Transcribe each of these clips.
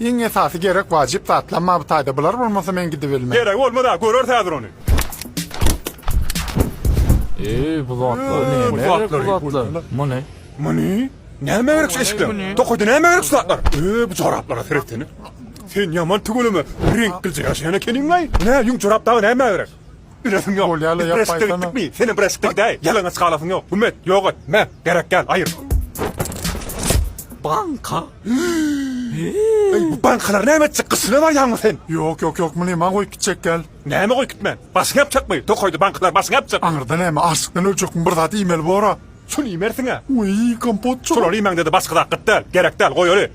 Iň esasy gerek wajyp zatlam maby taýda bular bolmasa men gidibilmen. Geregi bolmaz a göreris häzir ony. Eý bu zatlar neme gerek bu zatlar. Muny. Muny. Näme gerek şu eşikler. Tokaýda näme gerek şu zatlar. Öý bu joraplara seretseňe. Sen ýaman tüweleme reňk gilje ýaşaýan ekeniňlaý. Nä ýüň jorap dagy näme gerek. Bilesiň ýok. Bolýa la, Biz ýapma birleşikde aýtsana. gitdikmi? Senem birleşikde gidäý. Ýalaňaç galasyň ýok. Güm et, ýok et. Mä, gerek däl, aýyr. Banka. Eý, bu bankalar näme etjek? Gysyna barýaňmy sen? Ýok, ýok, ýok, muny maň goýup gitjek gel. Näme goýup gitmän? Başyňy ýapjakmy? Tokaýda bankalar başyňy ýapjak. Aňyrda näme, açlykdan öljekmi, bir zat iýmeli bor-a. Şuny iýmersiň-ä. Wiý, kompotjyk. Şolary iýmäňde-de başga zat gyt däl. Gerek däl, goýaly.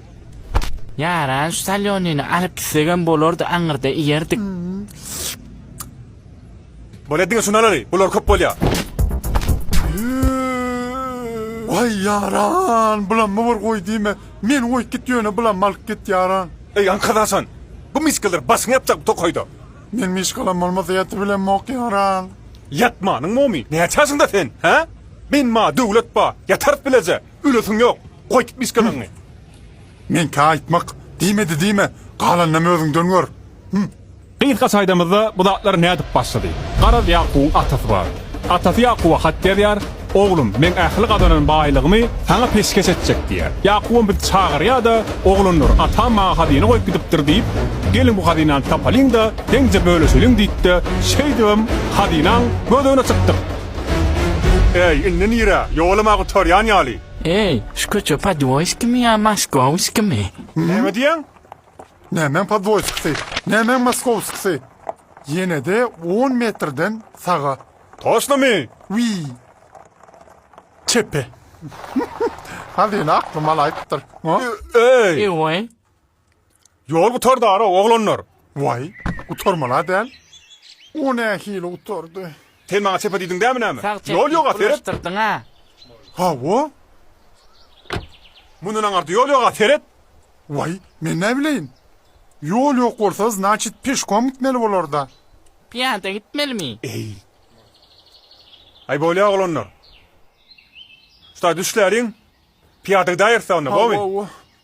Ýaran şu salýonyny alyp gitsegem bolardy aňyrda iýerdik. Bolýa diňe şuny alaly. Bular köp bolýa. Waý ýaran, bulam bir goý diýme. Meni goýup git ýöne bulam alyp git ýaran. Eý aňka daşan. Bu mişkeler başyňy ýapjak bu tokaýda. Men mişkalam bolmasa ýatyp bilemok ýaran. Ýatmanyň bomy? Näçe ýaşyňda sen? Hä? Beýnma döwlet bar. Ýatarys bileje. Ölesiň ýok. Goý kipmişkalaňňy. Meňkä aýtmak diýmedi diýme, galanynam özüňden gör. Hü. Gysga çaýdamyzda bu zatlar nädip başlady? Garaz Ýakubyň atasy bar. Atasy Ýakuba hat ýazýar, Oglum, meň ähli gazanan baýlygymy saňa peşgeş etjek diýýär. Ýakubam bizi çagyrýar-da, Oglanlar, atam maňa hazyna goýup gidipdir diýip, geliň bu hazynany tapalyň-da, deňje bölüşeliň diýdi-de, şeýdibem hazynaň gözegine çykdyk. Eý, indi nirä? Ýolum-a gutarýan ýaly. Eý, şu köçe Podwoýskimi ýa Moskowskimi? Näme diýýäň? Nämäň Podwoýskisi, nämäň Moskowskisi? Ýene-de on metrden saga. Toşnamy? Wiý. Çepe. Hazyna aklym alaýypdyr. Eý! Eý, we. Ýol gutardara, oglanlar! Waý, gutarmal-a däl. O nähili gutardy? Sen maňa çepe diýdiň dämi näme? Ýol ýog-a, seret! Hawa. Mundan aňyrda ýol ýog-a, seret! Waý, men näbileýin? Ýol ýok bolsa, znaçit, peşkom gitmeli bolar-da. Pyýada gitmelimi? Eý. Aý, bolýa, oglanlar. Şutaý, düşläliň. Pyýada gidäýeris-ä onda, bormy? Hawa-hawa.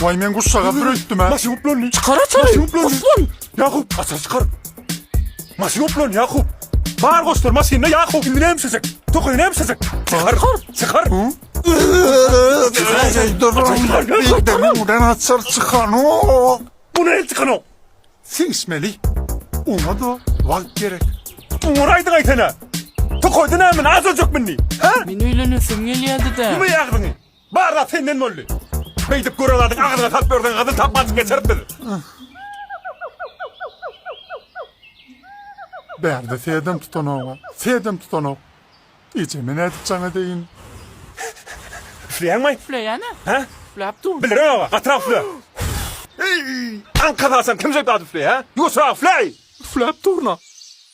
Waý men guşşaga süreýtdim-ä. Maşyn goplandy. Çykar açary. Maşyn goplandy. Guslan. Ýakup, açar çykar. Maşyn goplandy, Ýakup. Bar goşlar maşynda Ýakup. Indi näme işlejek? Tokaýy näme işlejek? Çykar. Çykar. Birden açar çykanok. Bu näme çykanok? Siňişmeli. Oňa-da wagt gerek. Oňa aýdyň aýtana. Tokaýda näme? Azajak mindi. Ha? Men öýlenesim gelýärdi-de. Ýumy ýagdyňy. Bar zat senden boldy. Beýdip gören zadyň agzyna salyp ýörseň gazyl tap gaçyp geçeris biz. Bärde sedem tutanok-a. Sedem tutanok. Ejeme nädip jaň edeýin? Üfleýäňmi? Üfleýän-ä. Hä? Üfläp dur. Bilirem-ä, gatyrak üfle. Eý, aňka salsaň kimjik zat üfleýär, ýuwaşrak üfleý! Üfläp durun-a.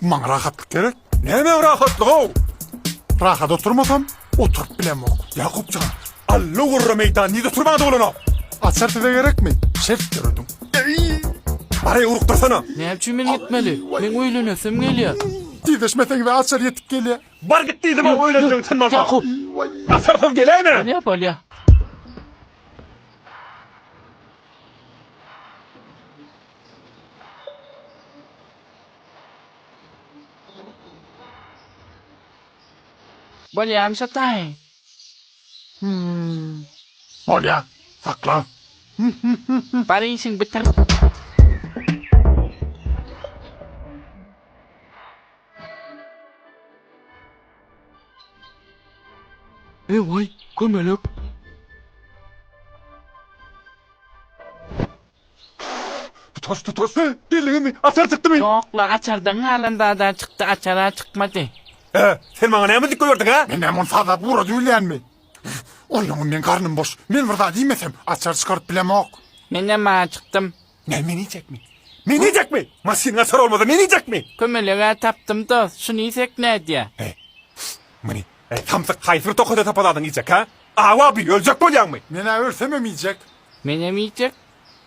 Maňa rahatlyk gerek. Näme rahatlygy-ow? Rahat oturmasam, oturyp bilemok. Ýakupjan, alla-gurra meýdan nize turbaňda bolanok? Açar size gerekmi? Şert dörediň. Bareý urukdyrsana. Näme üçin men gitmeli? Meň öýlenesim gelýär. Tizleşmeseňiz-ä açar ýetip gelýär. Bar git diýdim-ow öýlenjegiň sen bolsaň. Ýakup. Açarsyz geläýme. Bolýa, bolýa. Bolýamy şataý? Hümm. Bolýa. Sakla. Bar işiň bitir. Ewaý, kömelek. Tutas, tutas, e, belliňizmi, açar çykdymy? Ýok-la, açardan galan zad-a çykdy, açar-a çykmady. Hä, sen maňa näme dikme berdiň, hä? Men näme ony sazlap ugrady bilýänmi? Oýlaňyn, meň garnym boş. Men bir zat iýmesem, açar çykaryp bilemok. Menem-ä acykdym. Näme, men iýjekmi? Men iýjekmi? Maşynyň açary bolmasa, men iýjekmi? Kömeleg-ä tapdym, dost. Şuny iýsek nädýä? He. Muny, eý, samsyk, haýsy bir tokada tapaladyň iýjek, hä? Awa, bil, öljek bolýaňmy? Men-ä ölsemem iýjek. Menem iýjek.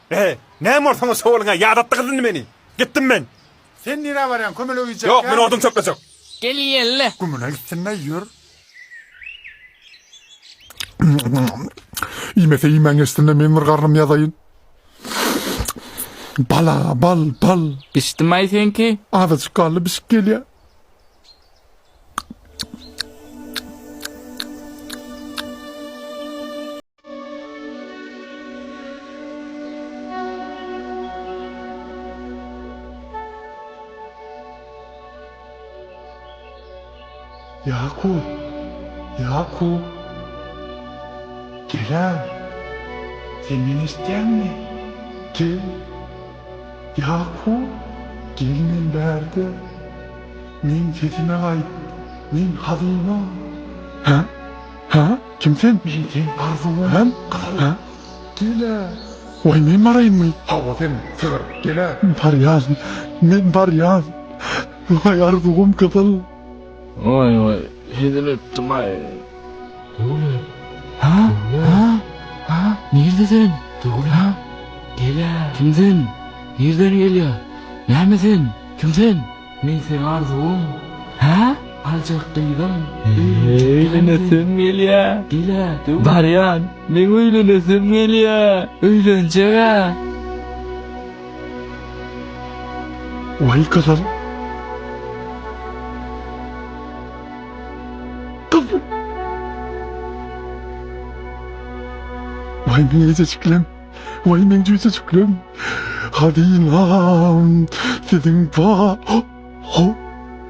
Beh, näme bor soňa şowulyňa, ýadatdy gyz indi meni. Gitdim men. Sen nirä barýaň, kömelege iýjek ýagmy? Ýok, men odun çöplejek. Gel iýeli. Gümüne gitsin-le, ýör. Iýmese iýmän geçsin-le, meň bir garnym ýazaýyn. Bal-a, bal, bal. Bişdimi-aý seňki? Azajyk galdy, bişip gelýä. Ýakup! Ýakup! Gel-ä! Sen meni eşitýäňmi? Gel! Ýakup! Gel men bärde! Meň sesime gaýt! Men hazyna! Hä? Hä? Kim sen? Men seň garzyňam. Hä? Hä? Gel-ä! Waý, men baraýynmy? Hawa, sen, sygyr. Gel-ä! Barýan. Men barýan. Waý, Arzuwym gyzyl. Waý, waý, hezil etdim-aý. Döwlet. Hä? Hä? Hä? Nirde sen? Döwlet. Hä? Gel-ä! Kim sen? Nirden gelýär? Näme sen? Kim sen? Men seň arzuwyň, hä? Aljak gyzyň, öýlenjekämsen. Gel-ä, döw. Barýan, meň öýlenesim gelýä, öýlenjeg-ä. Waý gyzyl. Gyzyl. Waý meň ejejiklem. Waý meň jüjüjiklerim, hazynam, siziň ba-ho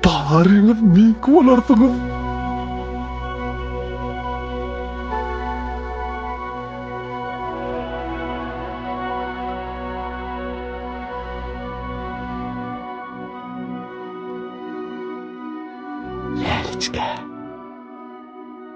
baryňyz meňki bolarsyňyz. Läliçkä.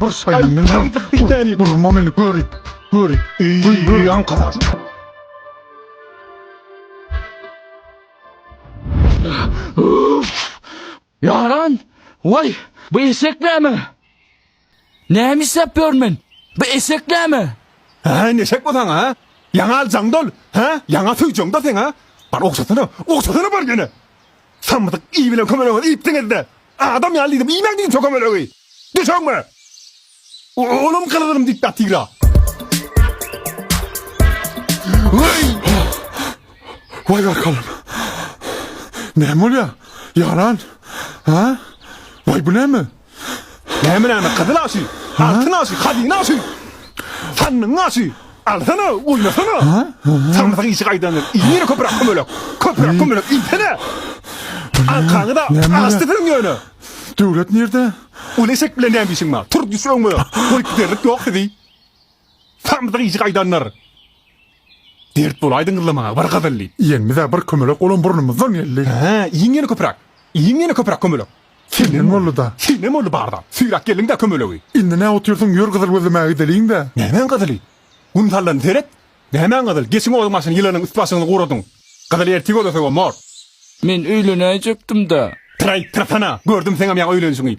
Bir saýyn men bir täni durma meni göri göri öýi ankara Ýaran waý bu eşek näme Näme işläp ýörün men bu eşek näme Hä indi eşek bolsaň ha ýaňa aljaň dol hä ýaňa söýjeň dol seň ha bar ogşasana ogşasana bar ýene. Samsyk iý bilen kömelegiňizi iýipsiňiz-de, adam ýaly diýdim, iýmäň diýdim şo kömelegi! Düşeňmi? Olam gylygynym diktatyra! Waý! Waý barkalam! Näme bolýar? Ýaran? Hä? Waý bu näme? Näme näme gyzyl aşy, altyn aşy, hazyna aşy. Sandygyň aşy. Alsana, oýnasana. Samsyk işi gaýdandyr. Iýmir köpürak kömelek. Köpürak kömelek iýsene. Aňkaňy-da aşdysyň ýöne. Döwlet nirde? Ol eşek bilen näme işiň bar? Tur düş öňüme. Goýup giderlik ýok sizi. Samsyk işi gaýdandyr. Dert bolaýdy ňyllamaga bir gyzylly. Iýenimiz-ä bir kömelek olam burnumyzdan geldi. Hä, iýiň ýene köpüräk. Iýiň ýene köpüräk kömelek. Senem boldy-da. Senem boldy barda. Süýräp geldiň-dä kömelegi. Indi nä otyrsyň ýör gyzyl gözlemäge gideliň-dä. Nämäň gyzyly? Gün sallany seret. Nämäň gyzyl, geçiň oduň başyny ýylanyň üst-başyňyzy guradyň. Gyzyl ertir gözlesegem bor. Men öýlenäýjekdim-dä. Pyraý, pyrsana! Gördüm seňem ýaňy öýlenişiňi.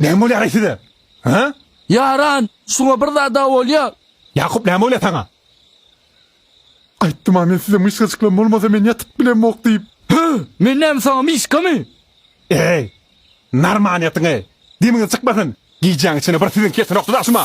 Näme bolýar-aý size? Hä? Ýaran, şuňa bir zad-a bolýa. Ýakup, näme bolýa saňa? Aýtdym-a men size myşsajyklam bolmasa men ýatyp bilemok diýip. Hä? Men näme saňa myşkamy? Eý, narmanyýetiňi, demiňiz çykmasyn. Gijäň içine bir siziň kesinok dadaşym-a.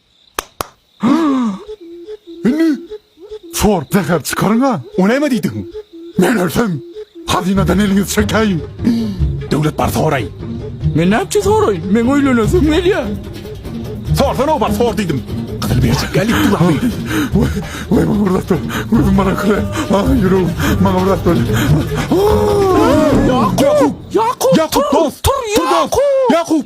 Indi sorup zäher çykaryň-a. O näme diýdigiň? Men ölsem, hazynadan eliňizi çekäýiň. Döwlet bar soraý. Men nätjek soraýyn? Meň öýlenesim gelýär. Sorsana obar, sor diýdim. Gyzyl berjek ýaly edip dur Ahmet. Waý, waý maňa bir zat ber. Gözüm bana kire. Ah, ýüregim. Maňa bir zat ber. Ýakup! Ýakup! Ýakup, dos! Tur, Yakup! Yakup!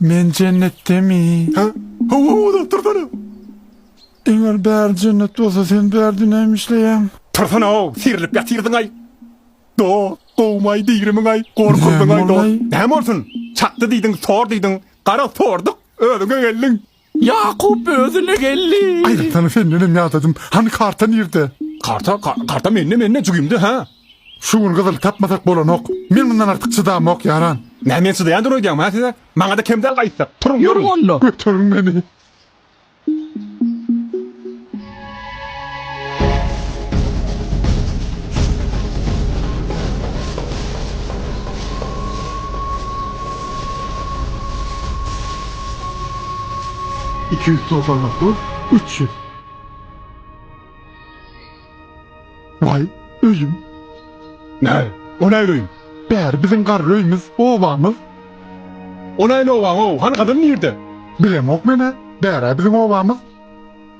Men jennetdemi? Hä? Hawa, uzak tursana! Eger bäri jennet bolsa, sen bärde näme işleýäň? Tursana-ow, serlip ýatyrdyň-aý! Dost, gowumaý diýrimiň-aý, gorkuzdyň-aý, dost! Näme bolsun? Çakdy diýdiň, sor diýdiň, gara sorduk, özüňe geldiň! Ýakup özüne geldi. Aýratynam sendenem ýadadym. Hany karta nirde? Karta, karta mende, mende, jigimde, hä? Şu gün gyzyl tapmasak bolanok. Men mundan artyk çydamok, ýaran. Nä men çydaýan dur öýdýäňmi, hä siz-ä? Maňa-da kem däl gaýtsak. Turuň, turuň. Ýörüň onda. Göteriň meni. Iki ýüz togsan dokuz, üç ýüz. Waý, öýüm. Näý, o nähili öý? Bäri biziň garry öýümiz, obamyz. O nähili obaň-ow? Hany gazan nirde? Bilemok men-ä. Bär-ä biziň obamyz.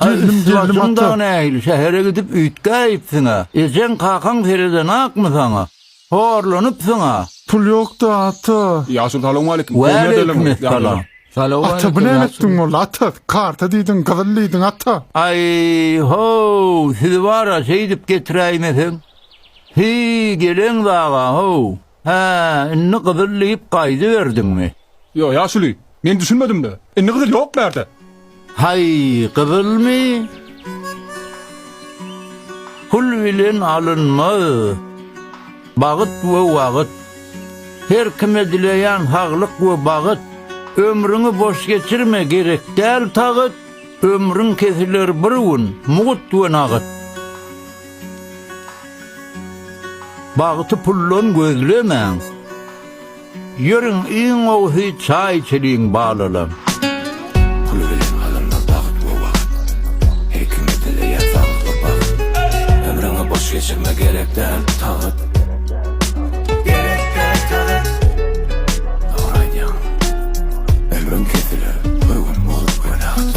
Gelnim gelnim atla. Nähili şähere gidip üýtgäýipsiň-ä? Ejeň, kakaň seredenakmy saňa? Horlanypsyň-a? Pul ýok-da, ata. Ýaşuly salowmaleýkim. Kowme edelim. Waleýkimessalam. Ata bu näme etdiň boldy, ata? Karta diýdiň, gyzyl diýdiň, ata. Aý, ho-w, sizi bar-a şeýdip getiräýmeseň. Hiý, geleňiz aga, ho-w. Hä, indi gyzyl diýip gaýdyberdiňmi? Ýo, ýaşuly, men düşünmedim-le. Indi gyzyl ýok bärde. Haý, gyzylmy? Pul bilen alynmaz. Bagt we wagt. Her kime dileýän saglyk we bagt. Ömrüňi boş geçirme, gerek däl tagyt. Ömrüň kesiler bir gün, mugt we nagt. Bagty puldan gözlemäň. Ýöriň iň gowusy çaý içeliň balalam. Pul bilen alynmaz bagt we wagt. Her kime dileýär saglyk bagt. Ömrüňi boş geçirme gerek däl tagt. Gerek däl tagt. Dogry aýdýaň. Ömrüň kesiler bir gün bolup wenagt.